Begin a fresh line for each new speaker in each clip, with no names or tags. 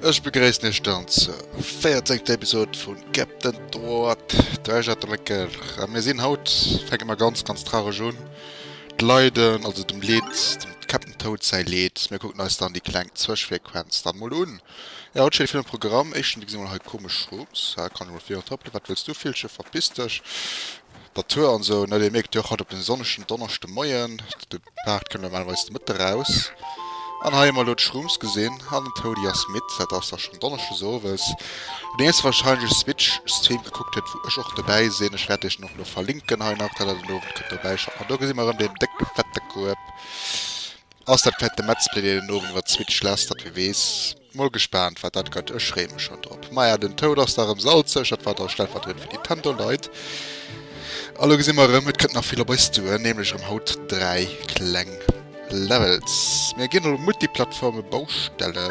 Ech begréissen Iech dann zur 14. Episode vun Captain Droit, Treasure Tracker. A mir sinn haut, fänke mer ganz, ganz traurig un. D'Leiden, also dem Leed, dem Captain Toad säi Leed. Mir kucken eis dann déi kleng Zwëschfrequenz dann mol un. Ja haut schéi vill um Programm. Éischten Deg si mol hei komesch Schtroups, hä kann ech mol virun trappelen, wat wëlls du Villchen, verpiss dech, der Tour an esou ne, dee mierkt jo och haut op den sonnegen Donneschde Moien, de Paart kënnt normalerweis de Mëtte raus an hei emol do d'Schtroumpfs gesinn an den Toady ass midd, dat ass da schonn Donneschdes Owes, deen iesse wahrscheinlech e Switch Stream gekuckt huet wou ech och dobäi sinn, ech wäert iech den och elo verlinken hei nach, dat der den Owend kënnt dobäi schauen, an do gesi mer erëm deen décke fette Kueb. Ass dat fette Metzplay deen den Owend iwwert Switch lass dat wie wees mol gespaant wat dat gëtt ech freeë mech schon drop maja den Toad ass da rem salzeg dat war da stellvertriedend fir Nintendo Leit a lo gesi mer rem et kënnt nach vill op eis zu nämlech rem haut 3 kleng Levels mir ginn elo Multiplattforme Baustelle.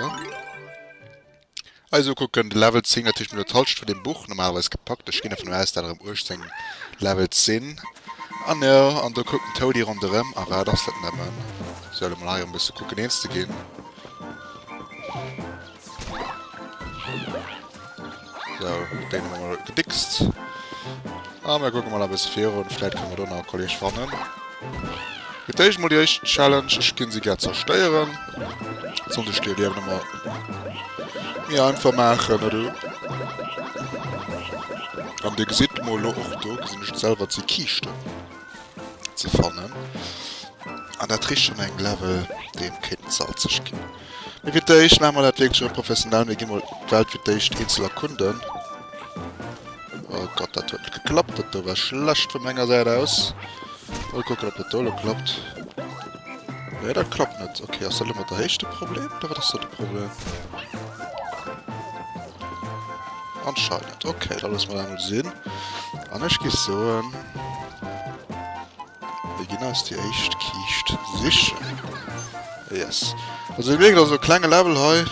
Eis ukucken. De Level 10 natierlech no der Talscht vun dem Buch normalerweis gepackt. Ech ginn dervun aus, dat erëm 18 Levels sinn. An jo, an do kuckt den Toady ronderëm. A wat ass dat nëmmen? Sou, elo mol hei erëm e bësse kucken eens ze ginn. Sou, deen hu mer mol gedickst. A mir kucke mol e bësse virun, vläit kënne mer do nach e Kolleeg fannen. Fir d'éischt mol déi éischt Challenge, ech géing se gär zerstéieren. Sollt ech déi Liewen emmer méi einfach maachen, net u? An Dir gesitt mol elo, och do gesinn ech et selwer, et si Kiischten ze fannen. An dat kricht schonn eng Level, dee kéint salzeg ginn. Mee fir d'éischt maache mer dat wierklech erëm professionell, mir gi mol d'Welt fir d'éischt eenzel erkunden. Oh Gott, dat huet net geklappt, dat do war schlecht vu menger Säit aus. Mol kucken, ob dat do elo klappt. Nee, dat klappt net. Okay, ass dat elo mat der Héicht de Problem, oder wat ass do de Problem? Anscheinend. Okay, da loosse mer dat emol sinn. An ech gi soen... Wéi ginn eis déi éischt Kiischt sichen? Yes. Also dir mierkt, also e klenge Level hei,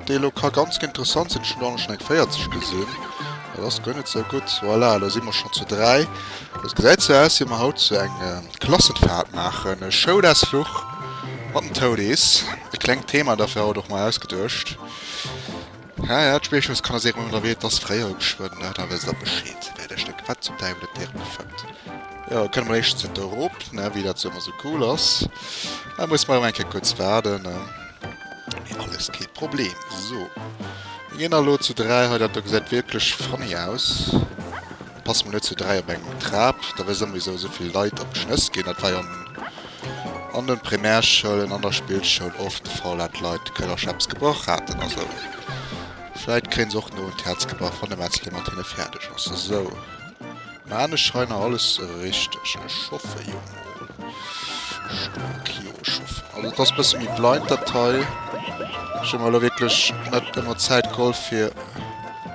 dee lo ka ganz interessant sinn. Ech hunn do anescht eng 40 gesinn. Dat ass guer net sou gutt. Voilà, elo si mer schonn zu dräi. Et gesäit sou aus, wéi mer haut sou eng Klassenfahrt maachen. E Schoulausfluch mat den Toadies. E klengt Thema dafir haut och mei ausgeduecht. Hä hä, d'Spéichelskanaliséirung an der Weed ass fréier geschwënn da, da wësst der Bescheed, wéi dat Stéck, wat zum Däiwel et déi Rënn fëmmt. Jo, da kënne mer éischtens net do erop, ne, wéi dat sou ëmmer sou cool ass. Da musse mer elo eng Kéier kuerz waarden, ne. Mee alles kee Problem. Sou, mir ginn da elo zu dräi hei, dat do gesäit wierklech funny aus. Passe mol net zu dräi op eng Trap, da wësse mer wisou esou vill Leit op d'Schnëss ginn. Dat war jo an de Primärschoulen, an der Spillschoul oft de Fall, dat d'Leit d'Këllercher eppes gebrach haten a sou. Vläit kréien se och no un d'Häerz gebrach, wann de Metzler mat hinne fäerdeg ass. Esou, mä anescht scheint nach alles richteg. Ech schoffe jo mol. Stark, jo, ech schoffen. Also et ass e bësse méi blind dat hei. Ech hu mer elo wierklech net ëmmer Zäit geholl fir.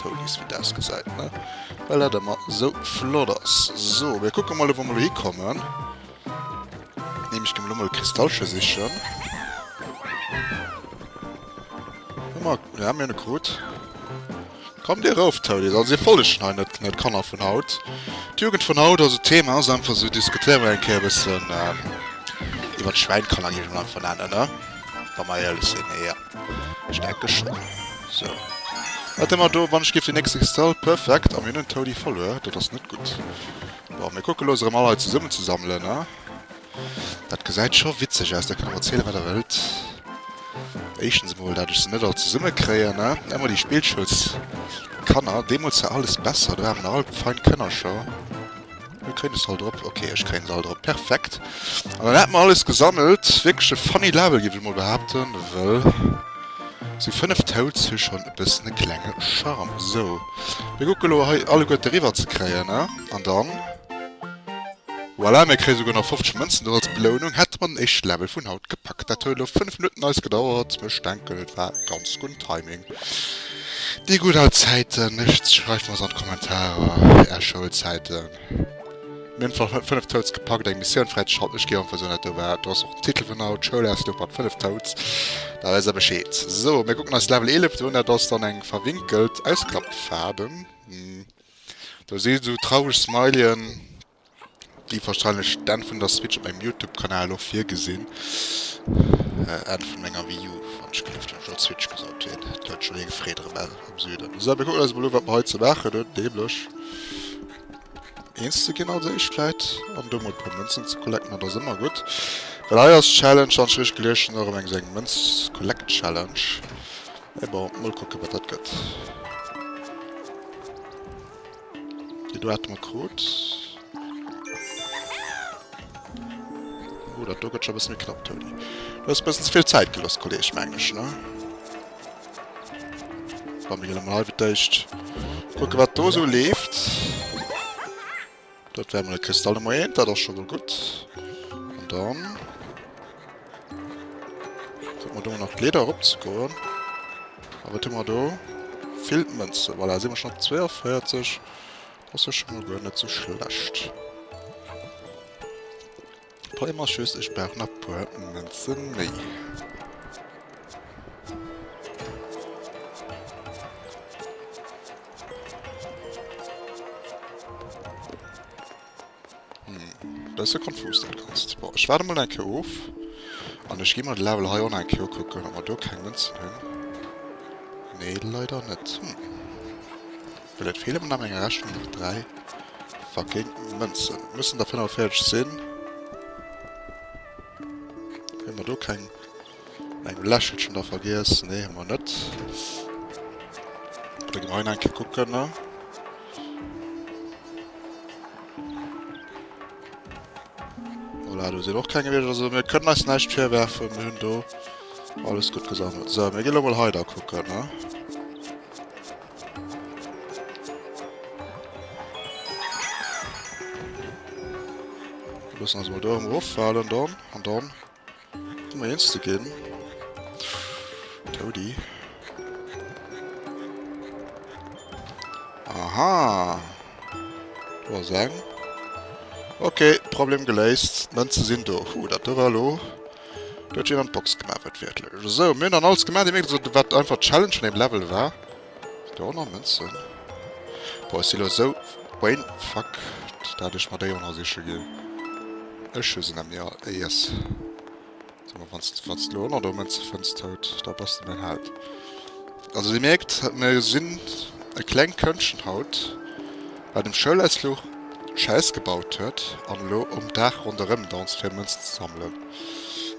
Tonis wéi daas gesait ne well dat emmer sou flott ass. Soo mir kucken mol ewou mer elo hikommen. Neem ech gem elo mol Kristallche sichen. Hu mer jo mir hunn e krut. Kommt dir erof Tonis also dir follegen hei net net Kanner vun haut. D'Jugend vun haut also d'Thema ass einfach sou diskutéiere mer eng Kéier e bëssen iwwert d'Schwäin kann een einfach nennen ne wa mer éierlech sinn. Ech ecke schonn. Sou. Wat hu mer do? Wann ech géif den nächste Kristall. Perfekt. A mir hunn en Toadie verluer. Dat ass net gutt. Bon, mir kucke looss erëm all hei zesummenzesammelen, a? Dat gesäit scho witzeg aus. Der kënnt mer erziele wat der wëllt. Éischtens emol, dat ech se net all zesummekréien, a? Ëmmer déi Spillschoulskanner. Deemools war alles besser. Do hate mer nach all fein Kënnerscher. Mir kréien se all drop. Okay, ech kréien se all drop. Perfekt. An dann hätte mer alles gesammelt. Wierklech e funny Level, géif ech emol behaapten, wëll sou fënnef Toads hu schonn e bëssen e klenge Charme. Sou, mir kucke elo hei alleguerte riwwer ze kréien, ne? An dann, voilà, mir kréie souguer nach 50 Mënzen do als Belounung. Hätte mer den éischte Level vun haut gepackt. Dat huet elo fënnef Minutten eis gedauert, mee ech denken, et war ganz gunn Timing. Déi gutt al Zäiten, lech schreift mer se an d'Kommentarer, är Schoulzäiten. Mir hunn zwar 5 Toads gepackt, eng Missioun fräizeschalten, ech ginn einfach sou dat do war, do ass och den Titel vun haut, Schoulausfluch mat 5 Toads, da weess der Bescheed. Sou, mir kucken eis Level 11 do un, dat ass dann eng verwinkelt Ausklappfaarden, do si sou traureg Smileyen. Déi wahrscheinlech d'Enn vun der Switch op mengem Youtube Kanal och virgesinn. Enn vun menger Wii U wann ech gelift hunn, ech wollt Switch gesot wien et huet schon eng Freed erem Ell am Süden. Sou mir kucken eis mol u wat mer hei ze maachen hunn, nämlech eens ze ginn als éischt vläit an do mol puer Mënzen ze collecten, dat ass ëmmer gutt well hei ass d'Challenge wann ech richteg gelies hunn och erem eng sou eng Mënz Collect Challenge mee bon mol kucken wat dat gëtt. Do haten mer krut. Oh, dat do gëtt scho e bësse méi knapp, Toni. Du hues e bëssen ze vill Zäit geloss, Kolleg, mengen ech, ne? Komm, mir ginn emol hei fir d'éischt kucke wat do esou leeft. Dat war emol e Kristallmoment, dat ass scho mol gutt. An dann... Sollten mer do nach d'Leeder erop ze goen. A wat hu mer do? Villt Mënzen. Voilà, si mer schonn op 42. Dat ass jo scho mol guer net sou schlecht. Problem ass just, ech brauch nach puer Mënze méi. Hm, bësse konfus dat Ganzt. Bon, ech waarde mol eng Kéier of an ech gi mol de Level hei on eng Kéier ukucken, ob mer do keng Mënzen hunn. Nee, leider net. Hm, well et feele mer nach eng Rechnung, nach dräi fucking Mënzen. Et mussen der 45 sinn. Hunn mer do keng? Eng Lächelchen da vergiess? Nee hu mer net. Da gi mer hei nach eng Kéier kucken. Voilà, do sinn och keng gewiescht. Also mir kënnen eis näischt virwerfen, mir hunn do alles gutt gesammelt. Sou, mir ginn elo mol hei da kucken. Loossen eis mol do erëm eroffalen dann. An dann. Moiens de Gin. Toady. Aha. Do ass eng. Ok, Problem geléist. D'Mënze sinn do. Huh, dat do war elo. Do huet jeen an d'Box gemaach, wat wäertlech ass. Esou, mir hunn dann alles gemaach, déi Méiglechkeet, wat einfach d'Challenge vun deem Level war. D'Eoner Mënzen? Boah ech si lo esou brain fuck dat ech mer d'Eoner siche ginn. Ech hu se nemmi all. Yes. Sot mol wanns de wanns de lo Eoner do Mënze fënns tout da bass de mäin Held. Also dir mierkt mir sinn e klengt Këndchen haut wat um Schoulausfluch Schäiss gebaut huet an elo um Daach ronderëm danzt fir Mënzen ze sammelen.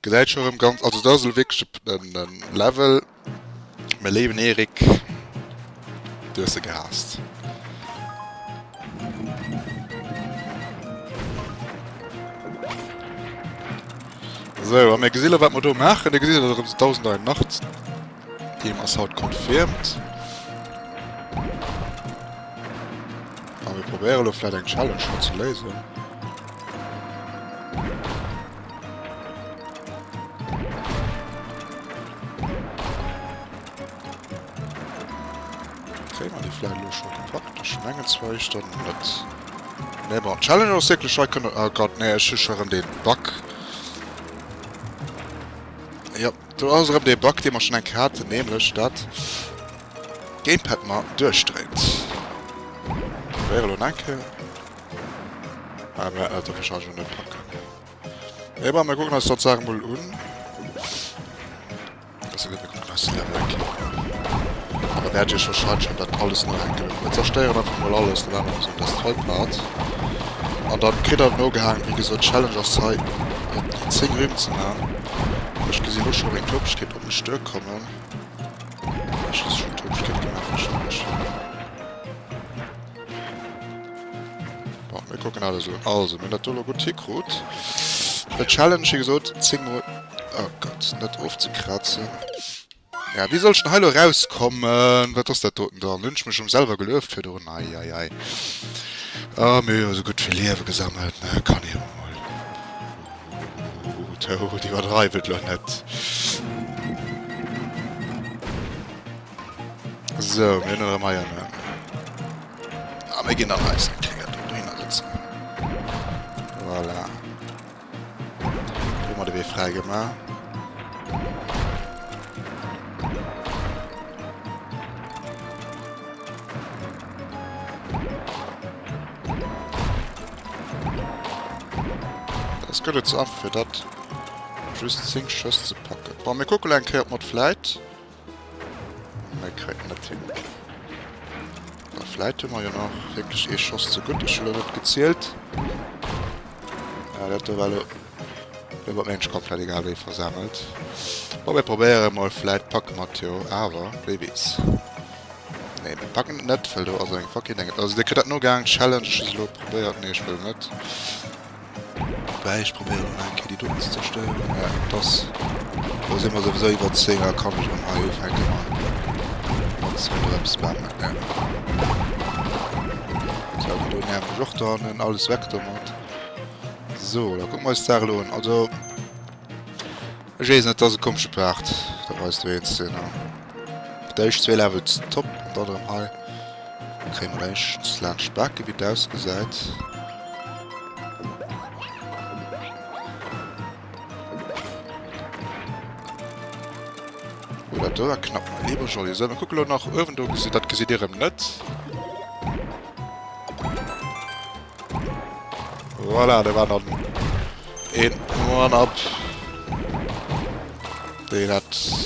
Gesäit scho rem ganz also dat ass elo wierklech en en Level mäi léiwen Erik du hues se gehaasst. Sou a mir gesi elo wat mer do maachen Dir gesitt elo rem se 1081 Team ass haut confirmed A mir probéiere elo vläit eng Challenge hei ze léisen. Kréie mer déi vläicht elo scho gepackt? Ech mengen zwar éischt dann net. Nee bon, d'Challenge ass wierklech hei kënne... Oh Gott, nee, ech hu scho erëm dee Bug. Jo, do ass erëm dee Bug, dee mer schonn eng Kéier haten, nämlech dat d'Gamepad mer duerchdréit. Probéiere elo nach eng Kéier. Ah, mär Elter kënnt ech jo net packen. Ey, bon, mär kucken eis dat Saach mol un. Dass se net mekucken eis de Level eng Kéier un. An da wäert Dir wahrscheinlech an dat alles no eng Kéier. Mär zerstéieren einfach mol alles, dat aner ass un dës Trei Part. An dann kritt der no gehaangen. Wéi gesot, d'Challenge ass hei, op déi 10 Rimm ze man. Ech gesinn elo scho meng Topeschkeet op mech duer kommen. Ech hu se schonn Topeschkeet gemaach, wahrscheinlech. Bon, mir kucken alles un. Also, mir hunn dat do elo gutt hikrut. De Challenge, wéi gesot, 10 mol... Oh Gott, net ofzekrazen. Ja, wéi soll ech denn hei elo erauskommen? Wat ass dat doten dann? Hunn ech mech erëm selwer gelueft virdrun? Ei, ei, ei. A mir hu jo esou gutt vill Liewe gesammelt, ne? Kann een emol. Toad, iwwerdreiw et elo net. So, mir hunn erëm hei en. A mir ginn an eis eng Kéier do dohinner sëtzen. Voilà. Hu mer de Wee fräi gemaach. gëtt et ze aff fir dat just 10 Schëss ze packen. Wa mir kucke eng Kéier mat Fläit. Hei kréien mer d'Hinn. Mä vläit hu mer jo nach wierklech ee Schoss ze gutt. Ech hu elo net gezielt. Ah, dat do war elo iwwer d'Ménsch komplett egal wéi versammelt. Bon, mir probéieren emol, vläit packe mer et jo awer, wie weess. Nee, mir packen et net, well do ass eng Fucking Deng. Also, Dir kritt dat nogaangen, d'Challenge. Ech hu se elo probéiert. Nee, ech wëll net. Wei ech probéieren hunn eng Kéier déi doten ze zerstéieren, mä et ass, lo si mer souwisou iwwer 10 a kann ech erëm hei ufänke mat ronderëmspammen, ne? Sou, déi do nerven ech och do hannen, alles weg domat. Sou, da kucke mer eis d'Saach elo un, also. Ech wees net dass e komesche Part da weis do eens den an d' eischt zwee Levels top an dann erem hei kréie mer eischt laanscht Bake wéi et ausgesait. Oula do war knapp mei leeber joli esou mer kucken elo nach uewen do gesitt dat gesitt dir erem net. Voilà, da war dann een One-Up. Dei hat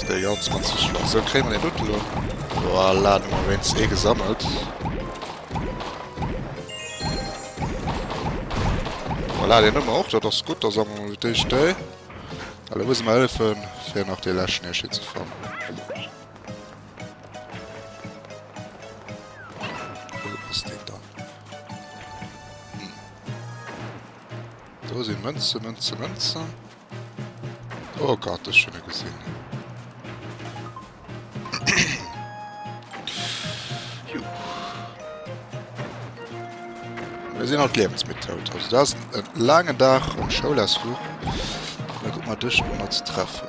dei ganz mat ze schloss. So kréien wir den Dutt lo. Voilà, dann haben wir wenigstens ee gesammelt. Voilà, den haben wir och, dat ass gutt, da sammeln wir fir d'éischt dei. Well da muss mer hëllefen, fir nach dee leschten Hirschi ze fannen. Do sinn Mënzen, Mënzen, Mënzen. Oh Gott, ech hunn e gesinn. Mir sinn alt Liewensmethod. Also dat ass e laangen Dag um Schoulausfluch. Da guck mal duerch, wou mer ze treffen.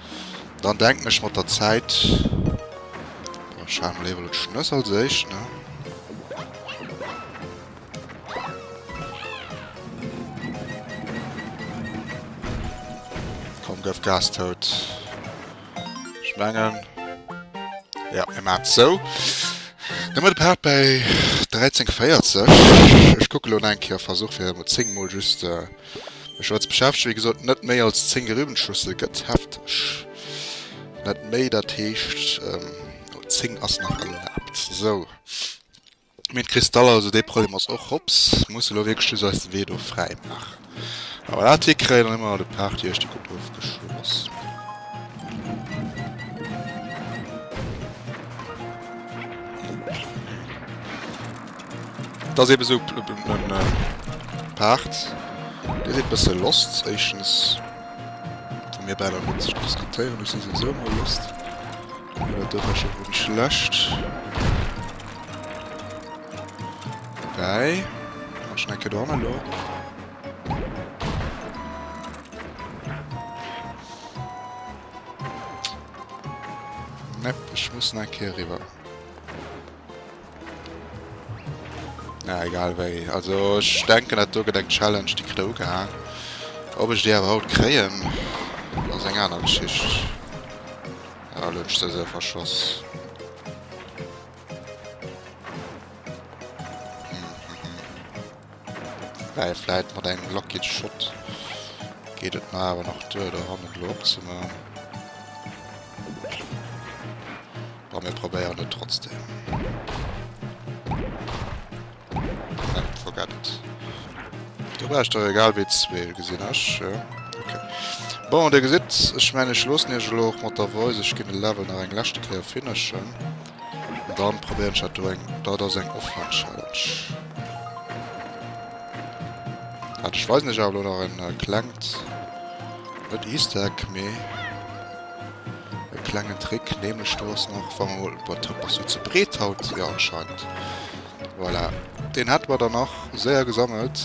Dann denken ech mat der Zäit, oh ech hale mol éiwer lo d'Schnëss als éischt ne. Komm gëff Gas tout. Ech mengen ja mir maan et sou. Dann hun mer de Part bei 13 40. Ech kucke lo eng Kéier, versuch fir emol 10 mol just. Ech als Beschäftege wéi gesot net méi als 10 Gerübenschüssel gëtt hefteg net méi, dat heescht 10 ass nach erlaabt. Sou Mee d'Kristal, also dee Problem ass och hops, musse elo wierklech just eis de Wee do fräi maachen. A wa dat hikréien, dann hu mer de Party eischte gutt ofgeschloss. Et ass eben esou en Paart, dee seet bësse Lost. Éischtens, wa mir bäi der Mënz scho diskutéieren, ech si souwisou emol lost. Mee dat do war scho wierklech schlecht. Dobäi, mat Schnecke dran elo. Nepp, ech muss nach eng Kéier eriwwer. Na egal wéi, also ech denken dat do gëtt eng Challenge déi kritt ugehaang. Ob ech déi awer haut kréien ass eng aner Geschicht. Ah, elo hunn ech se esou verschoss. Wei vläit mat engem lucky Shot geet et mer awer nach duer do hannen elo opzemaachen. Bon, mir probéieren et trotzdem. Perfekt, forget. Du brauchst doch egal wéi zwee, gesinn ech. Ja. Bon Dir gesitt ech mengen ech loossen Iech elo och mat der Voice. Ech ginn de Level nach eng leschte Kéier finishen. An dann probéieren ech dat do eng. Dat ass eng Offline-Challenge. Hat ech weisen Iech awer elo nach en klengt net Easter Egg mee. E klengen Trick neem ech do, ass nach wa mol, boah d'Hopp ass jo ze breet haut, jo anscheinend, voilà deen hätte mer dann nach séier gesammelt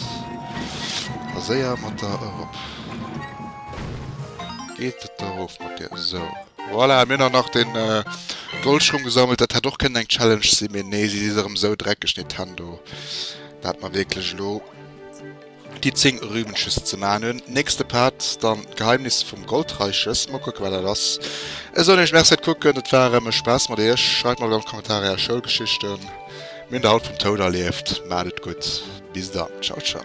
a séier mat der erop, geet et da erof mat dir, sou voilà mir hunn nach den Goldschung gesammelt, dat hätt och kënnen eng Challenge sinn, mee nee si si se erëm sou dreckeg, déi Tendo, dat mer wierklech elo. Déi 10 Rübenches ze man hun. Nächste Part dann d'Geheimnis vum Goldreiches. Mol kucken wat dat ass. Esou hunn ech merci fir d'Kucken. Et war erëm e Spaass mat iech. Schreift mer an de Kommentaren är Schoulgeschichten. Mir hunn der haut vum Toun erlieft. Maacht et gutt. Bis dann. Ciao ciao.